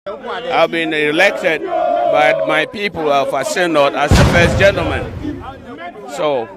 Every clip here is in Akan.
I've been elected by my people of a synod as the first gentleman. So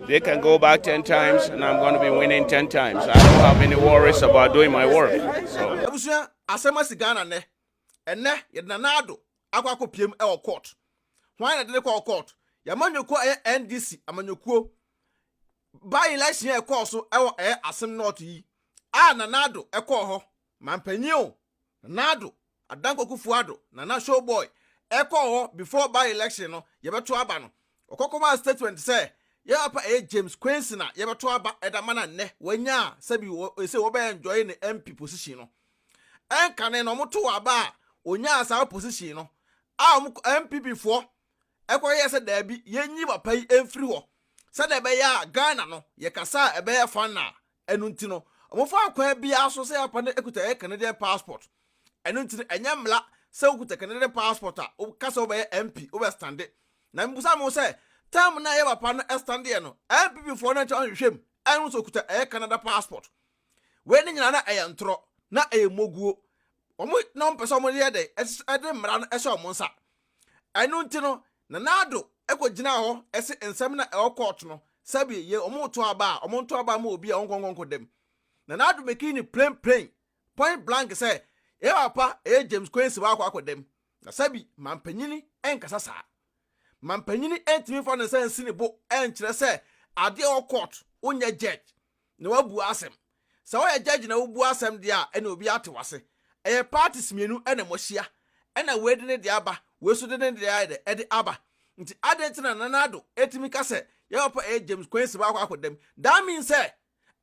they can go back 10 times and I'm going to be winning 10 times. I don't have any worries about doing my work. So. by election ɛkɔɔ so ɛwɔ ɛyɛ asem north yi a nanado ɛkɔɔ hɔ mampanyin o Nado, Adan Kwokufu Addo, Nana Show Boy, ɛkɔɔ hɔ before by election no yɛbɛto aba no, ɔkɔ kɔmaa statement sɛ yɛn papa ɛyɛ James Quincy na yɛbɛto aba ɛda ma na nnɛ wanya a sɛbi ese wɔbɛ enjoy ne MP position no. Ɛnkane no wɔto aba a onyaa saa position no a wɔn NPP foɔ ɛkɔ yɛɛ sɛ daabi yɛnyi papa yi mfiri hɔ sɛdeɛ ɛbɛyɛ a Ghana no yɛkasa a ɛbɛyɛ fann a Ɛno nti no, wɔfa akwan biara so sɛ yɛapa no kuta yɛn Canadian passport. Ɛno nti no, ɛnyɛ mmara sɛ wokuta Canadian passport a, woka sɛ wobɛyɛ MP, wobɛstande. Na mibisa me ho sɛ, term no a yɛn papa no standeɛ no, NPP foɔ no ankyɛ anhwehwɛ mu anhu sɛ ɔkuta ɛyɛ Canada passport? Wei no nyinaa na ɛyɛ ntorɔ, na ɛyɛ mmoguo. Wɔn na wɔmpɛ sɛ wɔyɛ dɛn, ɛde mmara no hyɛ wɔn nsa. Ɛno nti no, Nana Addo kɔ gyinaa hɔ se nsɛm na ɛwɔ court no sɛbe ye ɔmo reto aba a ɔmo nto aba mma obi a ɔnkɔ nkɔ nkɔ dam. Nana Addo mekii no plain plain point blank sɛ yɛn papa ɛyɛ James Kwense wakɔ akɔ dam na sɛbe manpanyini nkasa saa. Manpanyini ntumi mfa ne nsa nsi ne bo nkyerɛ sɛ ade a ɛwɔ court wonyɛ judge na wabua asɛm. Sɛ woyɛ judge na wobua asɛm deɛ a ɛna obiara te w'ase. Ɛyɛ parties mmienu na moahyia. Ɛna wei de ne deɛ aba, wei nso de ne deɛ ayɛ dɛ ɛde aba. Nti adɛn nti na Nana Addo tumi ka sɛ yɛn papa ɛyɛ James Quaincy baako akɔ dam? That means sɛ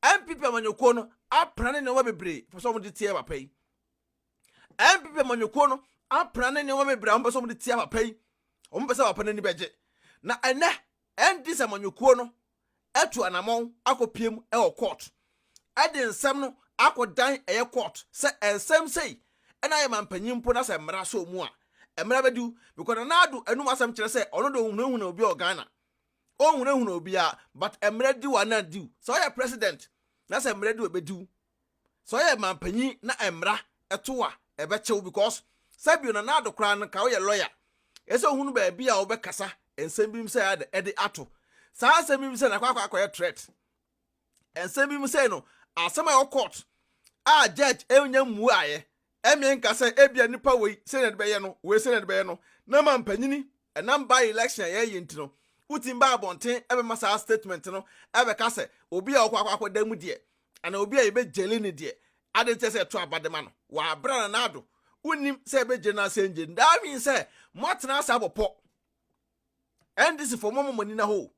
NPP amanyɔkuo no apena ne nneɛma bebree pɛ sɛ wɔn de tia papa yi. NPP amanyɔkuo no apena ne nneɛma bebree a wɔn pɛ sɛ wɔn de tia papa yi. Wɔn pɛ sɛ papa n'ani bɛgye. Na ɛnɛ NDC amanyɔkuo no atu anamɔn akɔpue mu wɔ kɔɔt de nsɛm no akɔdan ɛyɛ kɔɔt sɛ ɛnsɛm sei na ayɛ mampanyin mpo na sɛ mmara sɔɔ mu a mmara bɛdiw because Nana Addo anum asɛm kyerɛ sɛ ɔno de ɔnhunahuna obi wɔ Ghana ɔnhunahuna obiara but mmara diw a na diw sɛ ɔyɛ president na sɛ mmara diw a ɛbɛdiw Sɛ ɔyɛ manpanyin na mmara to wo a, ɛbɛkyɛ wo because sɛbio na n'ado koraa no nka woyɛ lawyer. Ɛsɛ sɛ ohunu baabi a wobɛkasa nsɛm bi mu sɛ ade ɛde ato. Saa nsɛm bi mu sɛ na akɔ akɔ akɔyɛ threat. Nsɛm bi mu sɛ no asɛm a ɛwɔ court a judge ɛnya mmuaeɛ Ɛmmeɛ nka sɛ ebia nipa wei sɛnea de bɛyɛ no, wei sɛnea de bɛyɛ no, na ama mpanyini, ɛnam by election a yɛɛyɛ nti no, wotumi ba abɔnten ɛbɛma saa statement no ɛbɛka sɛ obi a ɔkɔ akɔ akɔda mu deɛ, anaa obi a yɛbɛ gyeli no deɛ, adeɛ nti ɛsɛ ɛto aba de ma no, wɔ abere a Nana Addo wonnim sɛ yɛbɛ gyeli no anaa sɛ yɛngyeli no, that means sɛ moatena ase abɔ pɔ. NDC foɔ moama mo ani no ahɔ o.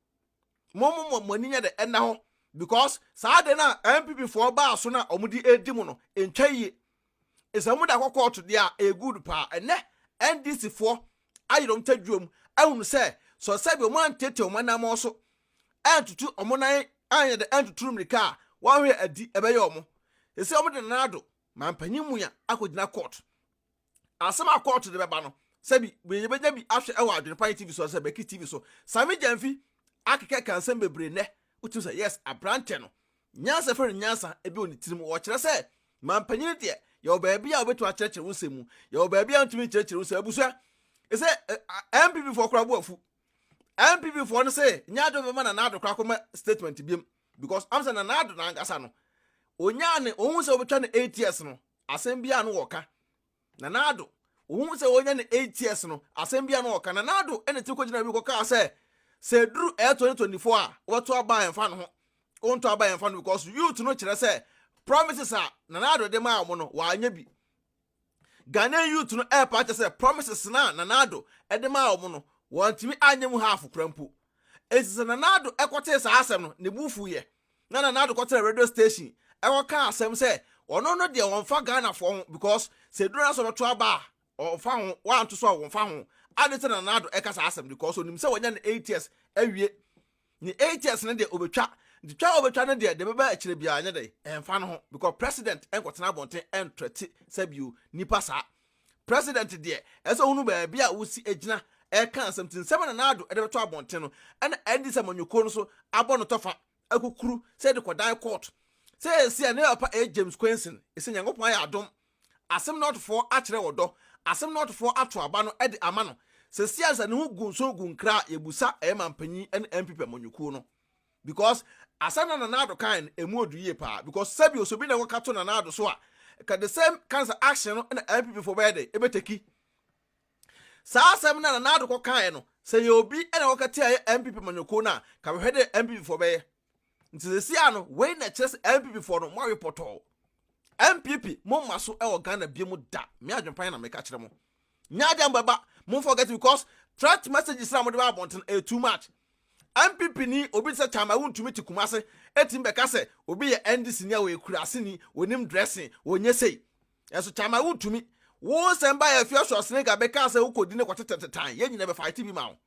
mo mo mo mo ani nyɛ dɛ ɛnna hɔ because saa de na npp foɔ baa so na wɔn de edi mo no ntwa yie nsɛ wɔn de akɔ kɔɔto deɛ a ɛyɛ good paa ɛnɛ ndc foɔ ayere wɔn tadwuam ahunu sɛ sɔ sɛbi wɔn antete wɔn anamɔ so antutu wɔn nan anyɛ dɛ antuturu mmirika a wɔn hwɛ adi ɛbɛyɛ wɔn sɛ wɔn de nana ado mampanyin mua akɔgyina kɔɔto. asɛm a kɔɔto de bɛba no sɛ bi yɛbɛnya bi ahwɛ ɛwɔ adwene pa tv so sɛ bɛki tv so sami gyamfi akeka ka nsɛm bebree nɛ wotim sɛ yes aberantɛ no nyansa fɛ no nyansa ebi wɔ ne tirim wɔkyerɛ sɛ mampanyini deɛ yɛwɔ baabi a wobɛtumi akyerɛkyerɛ wo nsɛm mu yɛwɔ baabi a wontumi nkyerɛkyerɛ wo nsɛm abusua ɛsɛ mpv foɔ koraa bo afu mpv foɔ no sɛ nyɛ adwo bɛma na naado koraa kɔma statement biam because am sɛ na naado nankasa no onyaa ne ohun sɛ wobɛtwa no eight years no asɛm bi a na wɔka. Nana Addo, ohuu sɛ onya ne eight years no, asɛm bi a na wɔka. Nana Addo na etumi kogyina bi kɔkaa sɛ, sɛ eduru ɛyɛ twenty twenty four a, wobɛto aba a ɛmfa ne ho. Wontɔ aba a ɛmfa ne ho because youth no kyerɛ sɛ promises a Nana Addo de maa wɔn no, wɔanyɛ bi. Ghanaian youth no ɛrepa akyɛ sɛ promises no a Nana Addo de maa wɔn no, wɔantumi anyɛ mu half koraa mpo. Enti sɛ Nana Addo kɔtee saa asɛm no, ne bo fuiɛ. Na Nana Addo kɔtenaa radio station kɔkaa asɛm sɛ ɔno no deɛ ɔmfa Ghanafoɔ ho because sɛ aduro no ara sɛ ɔbɛto aba a, ɔmfa ho, wanto so a ɔmfa ho. Ade nti na Nana Addo ɛka saa asɛm no because ɔnim sɛ wanya ne eight years awie. Ne eight years no deɛ ɔbɛtwa. Nti twa a ɔbɛtwa no deɛ deɛ ɛbɛba akyire biara nyɛ dɛn, ɛmfa no ho because president nkɔtena abɔnten ntrɛte sɛ bio nipa saa. President deɛ ɛsɛ ohunu baabi a wosi agyina ɛka asɛm nti nsɛm a Nana Addo de bɛto abɔnten no ɛna NDC amanyɔkuo no so abɔ no tɔfa akukuru sɛ de kɔdan court seesei a ne papa ɛyɛ James Kwenson ɛsɛ Nyankopɔn ayɛ adom Asem Northfoɔ akyerɛ ɔdɔ Asem Northfoɔ ato aba no de ama no seesei a sɛ ne ho gu nso gu nkra a yɛbusa ɛyɛ mampanyin ne NPP amanyɔkuo no. Because asɛm na Nana Addo kae no ɛmu ɔdu yie paa because sɛbio sɛ obi na ɛwɔ ka to Nana Addo so a ɛka the same kind of action no na NPP foɔ bɛyɛ dɛ ɛbɛtɛki saa asɛm na Nana Addo kɔ kaeɛ no sɛ yɛ obi na ɛwɔ ka tia yɛ NPP manyɔkuo no a ka bɛhwɛ dɛ NPP foɔ bɛyɛ nti sɛsi a no wei na ɛkyerɛ sɛ NPP foɔ no moawe pɔtɔɔ NPP mo mma so ɛwɔ Ghana bie mu da me adwenpan na meka kyerɛ mo. nyɛ adeɛ a mobɛba mo forget because threat messages na mode ba abɔnten ɛyɛ too much NPP ni obi te sɛ Chama wontumi te Kumase ɛtumi bɛka sɛ obi yɛ NDC ni a wɔyɛ kurase ni wɔnim dressing wɔnyɛ sei ɛnso Chama wontumi wo nsɛm ba yɛ fia sɔ snake abɛka sɛ wokɔdi ne kɔtetetetan yɛ nyina bɛfaete bi ma wo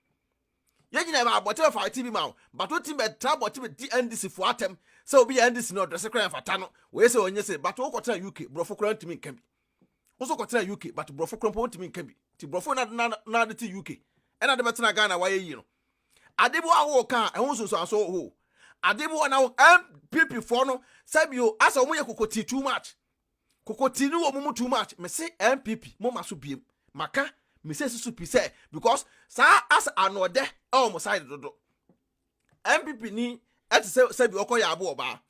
yɛ nyina bɛ abɔte bɛfaete bi ma wo but wotumi bɛtra abɔte bɛdi NDC fo atɛm sɛ obi yɛ NDC ni ɔdrɛse kora ɛmfata no wɔyɛ sɛ wɔnyɛ sɛ but wokɔtena UK borɔfo kora ntumi nka bi Wo nso kɔtena UK but borɔfo korɔ mpo wontumi nka bi. Nti borɔfo na na na de te UK. Ɛna de bɛtena Ghana wayɛ yie no. Ade bi wɔ hɔ ka a ɛho nsunsuanso wɔ hɔ. Ade bi wɔ na MPP foɔ no sɛbio asɛ wɔn yɛ kokotii too much. Kokotii no wɔ wɔn mu too much. Mese MPP mo ma so biem. Maka mesesi so pi sɛ because saa asɛ anoɔdɛ ɛwɔ wɔn side dodo. npp ni ɛte sɛ sɛbi ɔkɔ yɛ abo ɔbaa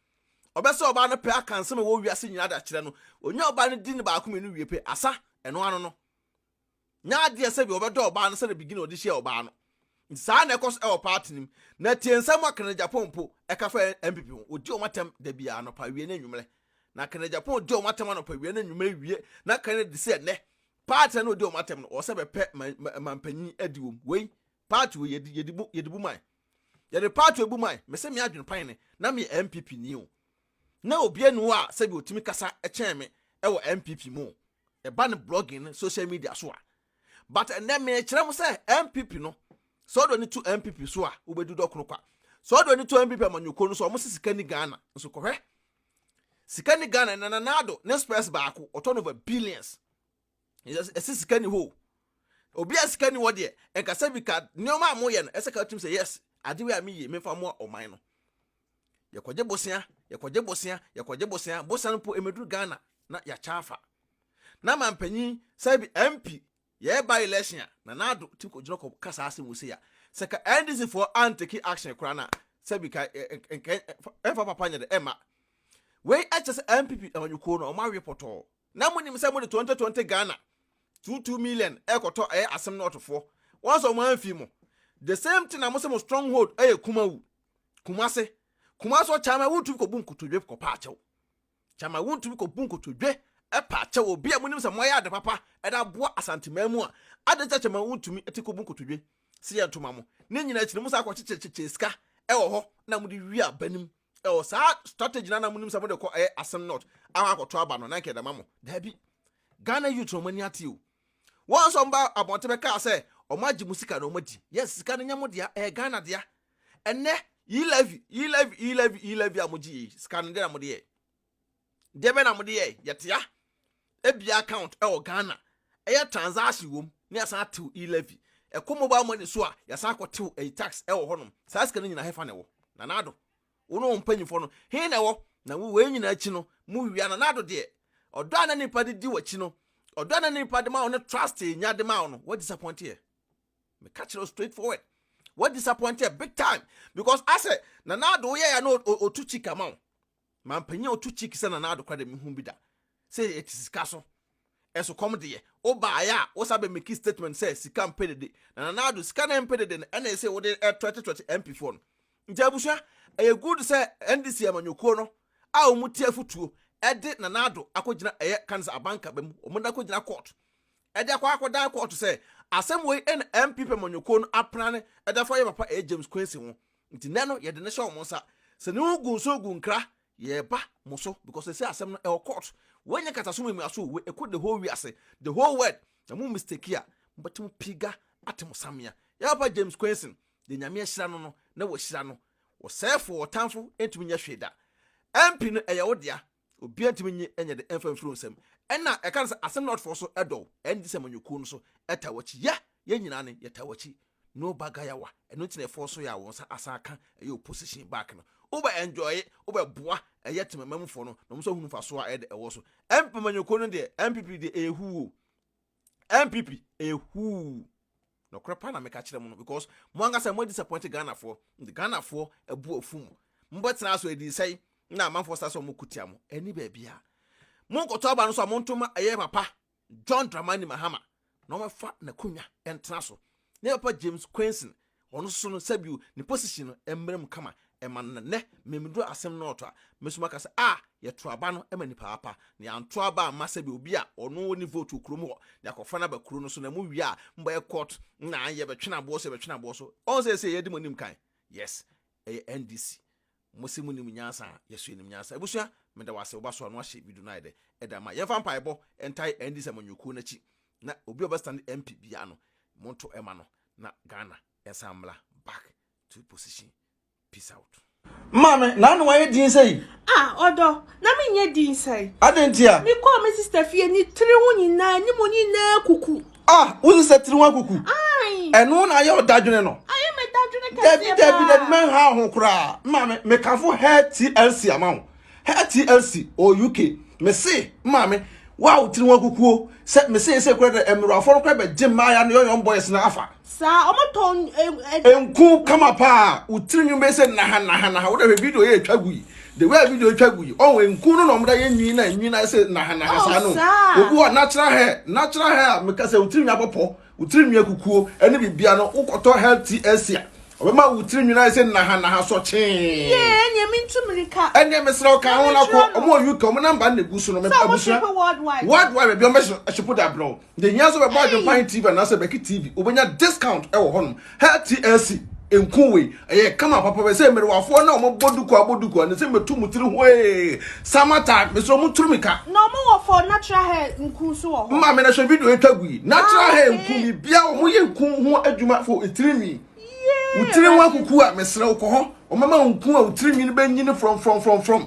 ɔbɛsɛ ɔbaa no pɛ aka nsɛm ɛwɔ wiase nyinaa da kyerɛ no ɔnya ɔbaa no di no baako mmienu wie pɛ asa ɛno ano no nya adeɛ sɛbi ɔbɛdɔ ɔbaa no sɛ na bigina ɔde hyɛ ɔbaa no nti saa na ɛkɔ so ɛwɔ paati no mu na tie nsɛm a kene japan po ɛka fa npp ho ɔdi ɔma tɛm da bi anɔpa wie ne nnwumerɛ na kene japan ɔdi ɔma tɛm anɔpa wie ne nnwumerɛ wie na kene de sɛ nnɛ paati na ɔdi ɔma tɛm no ɔsɛ bɛpɛ mampanyin adi wɔm wei Party wei yɛde yɛde bu yɛde bu man. Yɛde party wei bu man. Mese me adwene pan ne na me yɛ NPP ni o. Na obia ni hɔ a sɛbi otumi kasa kyɛn me ɛwɔ NPP mu o. Ɛba ne blogging ne social media so a. But ɛnɛ mekyerɛ mo sɛ NPP no sɛ ɔde w'ani to NPP so a wobɛdi dɔ kono kwa. Sɛ ɔde w'ani to NPP amanyɔkuo no so a wɔn se sika ni Ghana nso kɔhwɛ sika ni Ghana ɛnɛ Nana Addo ne spurs baako ɔtɔ no over billions. ɛsɛ sika ni hɔ obi a sika ni hɔ deɛ ɛnkasa bi ka nneɛma a moyɛ no ɛsɛ ka tim sɛ yes ade wei a meyɛ mefa mmoa ɔman no yɛkɔgye bosea yɛkɔgye bosea yɛkɔgye bosea bosea no mpo ɛmɛduru ghana na yɛakyɛ afa na ma mpanyin sɛ bi mp yɛreba election a na naado ti kɔgyina kɔ kasa asɛm wɔ sei a sɛ ka ndc foɔ anteki action koraa no a sɛ bi ka ɛmfa papa nyɛ dɛ ɛma wei ɛkyɛ sɛ mpp amanyɔkuo no ɔma awe pɔtɔɔ Na monim sɛ mode 2020 Ghana two two million ɛkɔtɔ ɛyɛ asem no ɔtofoɔ wɔn sɛ ɔmo anfi mo the same thing na mo sɛ mo strong hold ɛyɛ kumawu kumase kumase ɔ kyama wuntumi kɔbu nkotodwe kɔpa akyɛw kyama wuntumi kɔbu nkotodwe ɛpa akyɛw obi a monim sɛ moayɛ ade papa ɛde aboa asanteman mu a ade kyɛ kyama wuntumi ɛte kɔbu nkotodwe sɛ yɛ ntoma mo ne nyina akyiri mo sa akɔkyekyekyekyɛ sika ɛwɔ hɔ na mode wi abanim ɛwɔ saa strategy na na mo nim sɛ mo de kɔ ɛyɛ asɛm not akɔ akɔtɔ aba no na nkɛ dama mo daabi ghana youth wɔn ani ate o wɔn nso ba abɔnten bɛ kaa sɛ wɔn agye mo sika na wɔn adi yes sika no nyɛ mo dea ɛyɛ ghana dea ɛnɛ yi levy yi levy yi levy yi levy a mo gye yi sika no deɛ na mo de yɛ Deɛ bɛn na mode yɛɛ? Yɛtea ebia account ɛwɔ Ghana ɛyɛ transaction wom ne yɛasan atew e-levy ɛkɔ mobile money so a yɛasan akɔtew ɛyi tax ɛwɔ hɔnom saa sika no nyinaa hefa na ɛwɔ? Nana Addo wo ne wo mpanyimfoɔ no he na ɛwɔ? Na wei nyinaa akyi no mowia Nana Addo deɛ ɔdɔ a na nipa de di w'akyi no ɔdɔ a na nipa de ma wo ne trust a nya de ma wo no wa disappoint yɛ meka kyerɛ wo straight forward wa disappoint yɛ big time because asɛ Nana Addo woyɛ ya na ɔtu kyika ma wo Mampanyin a ɔto cheek sɛ Nana Addo koraa de me hu bi da sɛ yɛte sika so. Ɛso kɔm deɛ, wo baeɛ a wo san bɛ makii statement sɛ sika mpɛ dede. Na Nana Addo, sika na ɛmpɛ dede no ɛna ɛsɛ wode ɛtrɛte trɛte MP foɔ no. Nti abusua, ɛyɛ good sɛ NDC amanyɔkuo no a wɔn tie afutuo ɛde Nana Addo akɔ gyina ɛyɛ Kansa Abankaba mu, wɔn de akɔ gyina court ɛde akɔ akɔ dan court sɛ asɛm wei ɛna NPP amanyɔkuo no apran ɛde afa yɛn papa ɛyɛ James Quincy ho. Nti nnɛ no yɛde no hyɛ wɔn nsa. Sɛ ne ho gu nso gu nkra, yɛreba mo so because sɛsɛ asɛm no ɛwɔ court. Woanya kataso mu amiaso o, ɛkɔ the whole wiase, the whole world. Na mo mistake a, mobɛte mo piga ate mo samea. Yɛ papa James Kwenson, deɛ Nyame ahyira no no na wahyira no. Ɔsɛɛfoɔ, ɔtanfo ntumi nyɛ hwee da. MP no ɛyɛ wo dea, Obiara ntumi nye nyɛ de mfa mfiri wo nsam. Ɛna ɛka no sɛ asem lordfoɔ so ɛdɔ wo ɛne sɛ amanyɔkuo no so ɛtaa wakyi yɛ yɛn nyinaa ne yɛtaa wakyi no ba gayawa ɛno nti na ɛfɔɔ so yɛ a wɔn nsa asan aka ɛyɛ opposition back no wo bɛ enjoye wo bɛ boa ɛyɛ tema mamufoɔ no na wɔn nso ahunu mfasoɔ a ɛde ɛwɔ so ɛmp amanyɔkuo no deɛ ɛmpp deɛ ɛyɛ huu o ɛmpp ɛyɛ huu. Nɔkorɛ paa na meka kyerɛ mo no because mo ankasa mo adisapɔinte Ghanafoɔ nti Ghanafoɔ abu afu mo. Mobɛtena ha so ɛdii sɛn na amanfoɔ saa sɛ wɔn ko tia mo? Ɛnni baabiara. Mo nkɔtɔ aba no so a mo nto ma ɛyɛ papa John Dramani Mahama na wɔmɛfa n'akonwa ɛntena so. Ne papa James Quainson ɔno nso no sɛbio ne position no ɛmmrɛ mu kama ɛma no nnɛ memeduru asɛm no ɔtɔ a me so maka sɛ ah yɛto aba no ma nipa apa na yɛanto aba amma sɛ bi obi a ɔno ne vote wɔ kurom hɔ na yɛakɔfa no aba kuro no so na mu wie a mbɛyɛ court na yɛbɛtwene aboɔ so yɛbɛtwene aboɔ so ɔn sɛ sɛ yɛde mo anim kan yes ɛyɛ ndc mo se mo nim nyansa a yɛso yɛnim nyansa abusua meda wase woba so ano ahyɛ video no ayɛ dɛ ɛda ma yɛmfa mpaebɔ ntae ndc amanyɔkuo no akyi na obi a ɔbɛstand mp bia no monto ɛma no na Ghana ɛnsan mmla back Two position peace out. Maame, na ano ayɛ din sɛ yi. Ah, ɔdɔ, na me nyɛ din sɛ yi. Adɛn nti a? Me kɔɔ me sista fie, ne tiri ho nyinaa, anim nyinaa akuku. Ah, wo sista tiri ho akuku? Ayi. Ɛno na ayɛ ɔdadwene no? Ayɛ me dadwene kɛseɛ paa. Dabi, dabi, dabi, mɛnha ho koraa. Maame, mekamfo Hair TLC ama wo. Hair TLC, ɔ UK. Mese, maame, wo a wo tiri ho akukuo, sɛ mese yɛ sɛ kura dɛ, mmerɛwafoɔ no kora bɛgye mmaaya no yɔyɔm boys no afa. saa ɔmo tɔn eh, eh, nku kama paa wo tiri nwom bɛyɛ sɛ naha naha naha wode hwɛ video yɛ atwa gu yi the way a video atwa gu yi ɔho nku no na ɔmda yɛ nwi na nwi no ayɛ sɛ naha naha Oh, saa no saa. obi wɔ natural hair natural hair a meka sɛ wo tiri nwi abɔpɔ wo tiri nwi akukuo ɛne biribia no wokɔtɔ hair tea asi a ɔbɛma wo tiri nwi no ayɛ sɛ naha naha sɔkyee yee ɛneɛ mentu mirika ɛneɛ mesrɛ wo ka ho no akɔ ɔmo wɔ uk ɔmo namba no na ɛgu so no sɛ ɔmo abusua hyepe worldwide worldwide baabi a ɔmo bɛhyepo de abrɛ wo Nti hia sɛ bɛbɔ adwempan TV anaasɛ bɛki TV, wobɛnya discount wɔ hɔnom. Hair TLC, nku wei, ɛyɛ kama papa bɛ sɛ mmerewafoɔ na wɔn bɔ duku abɔ duku a, ne sɛ mɛtu mo tiri hwee, summer time, mesrɛ wɔn turu mi ka. Na wɔn wɔ for natural hair nku nso wɔ hɔ. Maame na hwɛ video etwa gu yi, natural ah, hair nku mi bia wɔn yɛ nku ho adwuma for etiri nwi. Wotiri ho akuku a mesrɛ wokɔ hɔ, wɔn mɛma nku a wotiri nwi no bɛ nyini from from from from.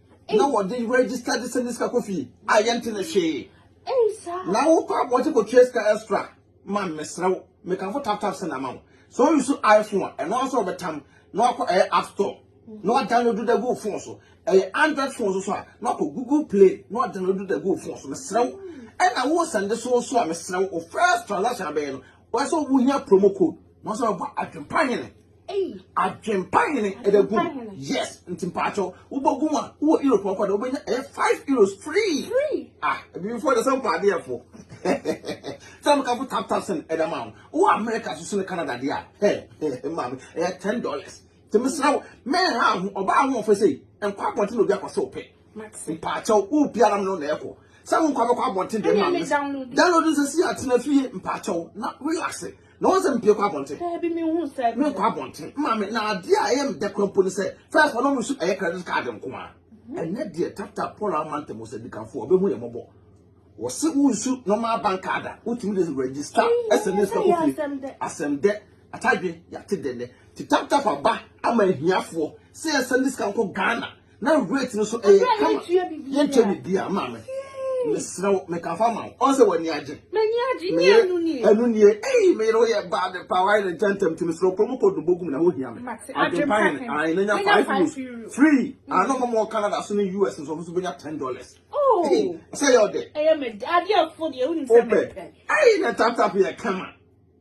na wɔde register de sɛ ne sika kɔ fie a yɛnte ne hwee na wokɔ abɔnten kɔtua sika extra ma mesrɛ wo mekamfo tap tap sɛ na ama wo sɛ ɔyi so iphone a ɛno asɛ ɔbɛtam na wakɔ ɛyɛ app store na wadownload da gu phone so ɛyɛ android phone so so a na wakɔ google play na wadownload da gu phone so mesrɛ wo ɛna wo sɛnde so so a mesrɛ wo first transaction abɛyɛ no wɔsɛ wohia promo code na wɔsɛ wɔbɔ adwempa hene Adwempa hene ɛda gu yes nti mpaatɔ wobɔ gu a wowɔ europe ɔkɔ de wobɛnya ɛyɛ five euros free ah ebibifo de sɛ mpa adeɛfo sɛ mekafo tap tap sɛn ɛda ma wo wowɔ america so sene canada deɛ a hɛ maame ɛyɛ ten dollars nti mesrɛ wo mɛnha ho ɔbaa ahoɔfɛ sei nkɔ abɔnten na obi akɔ sɛ wopɛ mpaatɔ wopi anam no na ɛkɔ sɛ wonkɔ abɛkɔ abɔnten deɛ maame download nsɛ si atena fie mpaatɔ na relaxe Na wɔn sɛ mpie kɔ abɔnten. Daabi mi hu sɛ. Mi nkɔ abɔnten. Maame na adeɛ a ɛyɛ mi dɛ kura mpo ni sɛ first wɔn mu nso ɛyɛ credit card nko ara. Ɛnɛ deɛ tata Paul ama ntɛm sɛ dikanfoɔ ɔbɛ hu yɛ mɔbɔ. Wɔsi wo nsu normal bank card a wotumi de register ɛsɛ ne sika kofie. Asɛm dɛ atadwe yate dɛ nɛ ti tap tap aba ama ahiafoɔ sɛ yɛ sɛ ne sika nkɔ Ghana na rate no so ɛyɛ kama yɛntua biribiara maame mesrɛ wo meka fa ma wo ɔn sɛ w'ani agye ɛno nie ei meyere woyɛ baa de paa wayɛ ne ntɛntɛm nti mesrɛ kuro mu kɔdu bɔgum na wohia me adwempa hene ae na nya five euros free ano ma mɔ canada so ne us nso ɔmo so bɛnya ten dollars oh. sɛ yɛ ɔdɛ wopɛ ei na taptap yɛ kama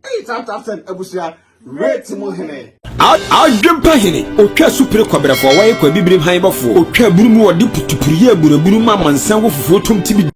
Eyi tantan sɛn abusua rate mu hene. Adwempa hene, otwa su pere kɔbrɛfoɔ, wɔyɛ kɔ abibirim han bɔfoɔ, otwa abunu mu, ɔde putupuruyɛ abunu abunu ma amansan wɔ fufuo tom tibidi.